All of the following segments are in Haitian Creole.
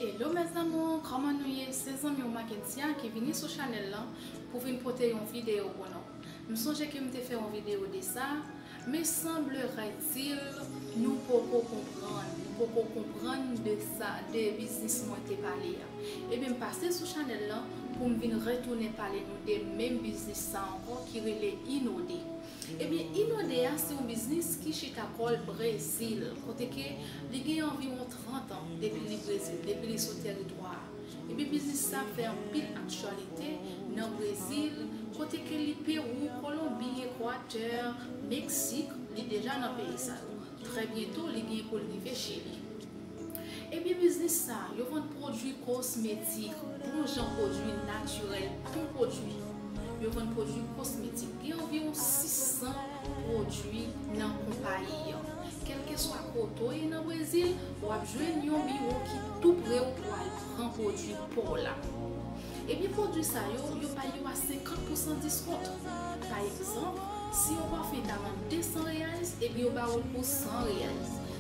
Hello mes amours kòman nou ye se zanmi w Makentia ki vini sou chanèl lan pou vin pote yon video pou nou m sonje ke m te fè yon video de sa men sanbleretil nou poko konprann nou poko konprann de sa de biznis mwen te pale a ebyen m pase sou chanèl lan pou m vin retounen pale nou de menm biznis sa ankò ki rele Inode. Ebyen Inonde a se yon biznis ki chita kò l Brezil, kote ke li gen anviwon 30 an depi li Brezil, depi li sou tèritwa a. Ebyen biznis sa fè anpil aktyalite nan Brezil, kote ke li Pewou, Kolonbi, Ekwatè, Meksik, li deja nan peyi sa yo. Trè byento li gen pou l rive Chili. Ebyen biznis sa yo vann pwodwi kosmetik, bon jan pwodwi natirèl bon pwodwi. Yo vann pwodwi kosmetik. Gen anviwon 600 pwodwi nan konpayi an. Kèlkeswa kote w ye nan Brezil, w ap jwenn yon biwo ki tou pre w pou al pran pwodwi pa w la. Ebyen pwodwi sa yo, yo bay yo a 50 pousan diskont. Pa egzanp, si yon pafim ta vann 200 reais, ebyen yo ba ou l pou 100 reais.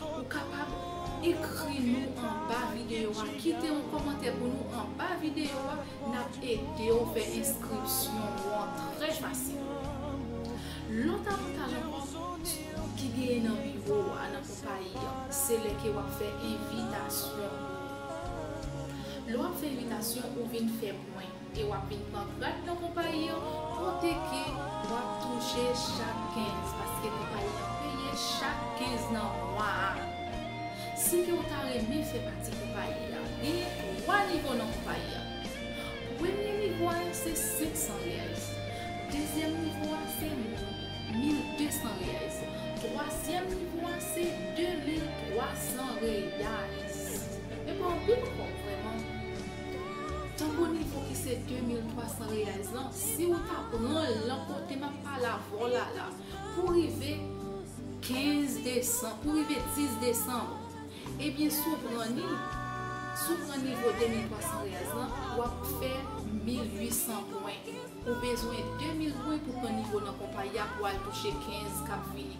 Ou kapab Ekri nou anba videyo a kite yon kòmantè pou nou anba videyo a nap ede w fè enskripsyon ou an trè fasil Lòt avantaj ankò ki genyen nan biwo a nan konpayi an se lè ke wap fè envitasyon pou lè wap fè envitasyon ou vin fè pwen. e wap vin pran grad nan konpayi an kote ke wap touche chak 15 paske konpayi an peye chak 15 nan mwa a si ke ou ta renmen fè pati konpayi a genyen 3 nivo nan konpayi a premye nivo a yo se 500 reais dezyèm nivo a se 1200 reais twazyèm nivo a se 2300 reais men pa anpil ankò vrèman. Tango nivo ki se 2300 reais lan si ou ta pranl lan kote map pale avèw la la pou rive 15 desanm pou rive 10 desanm ebyen si ou pran ni si ou pran nivo 2300 reais lan wap fè 1800 pwen ou bezwen 2000 pwen pou pran nivo nan konpayi a pou al touche 15 kap vini.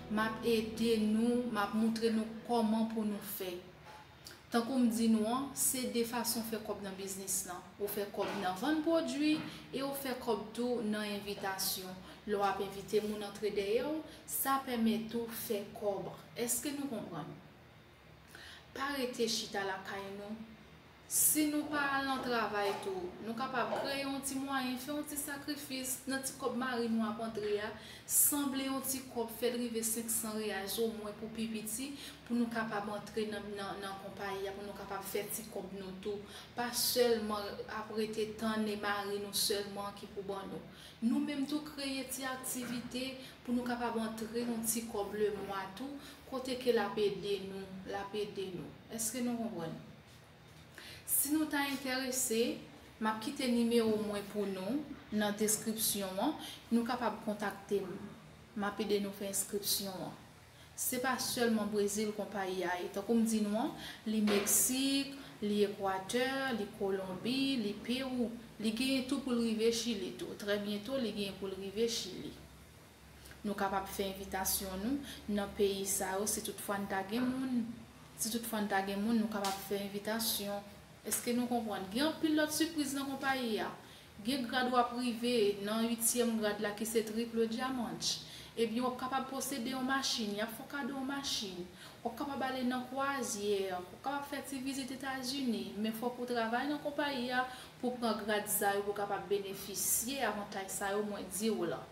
Map ede nou, map moutre nou koman pou nou fè. Tankou m di nou an, se 2 fason fè kòb nan biznis lan. Ou fè kòb nan vann pwodwi e ou fè kòb tou nan envitasyon. Lè w ap envite moun antre dèyè w, sa pèmèt ou fè kòb. Eske nou konprann? Pa rete chita lakay nou. Si nou pa al nan travay tou, nou kapab kreye yon ti mwayen, fè yon ti sakrifis nan ti kòb mari nou ap antre a, sanble yon ti kòb, fè l rive 500 reais omwen pou pi piti, pou nou kapab antre nan konpayi a, pou nou kapab fè ti kòb nou tou. Pa sèlman ap rete tann e mari nou sèlman ki pou ban nou. Nou menm tou kreye ti aktivite pou nou kapab antre yon ti kòb lemwa tou, Kote ke lap ede nou, lap ede nou. Eske nou konprann? Si nou ta enterese, map kite nimewo mwen pou nou nan deskripsyon an, nou kapab kontakte m. Map ede nou fè enskripsyon an. Se pa sèlman Brezil konpayi a ye. Tankou m di nou an, li Meksik, li Ekwatè, li Kolonbi, li Pewou. Li genyen tou pou l rive Chili tou. Trè byento li genyen pou l rive Chili. Nou kapab fè envitasyon nou nan peyi sa yo si tout fwa n ta gen moun. Si tout fwa n ta gen moun, nou kapab fè envitasyon. Eske nou konprann? Gen anpil lòt sipriz nan konpayi a. Gen grad w ap rive, nan uityèm grad la ki se triple diamantch. Ebyen w ap kapab posede yon machin, y ap fè w kado yon machin. W ap kapab ale nan kwazyè, w ap kapab fè ti vizit Etazini. Men fòk ou travay nan konpayi a pou w pran grad sa yo pou w kapab benefisye avantaj sa yo mwen di w lan.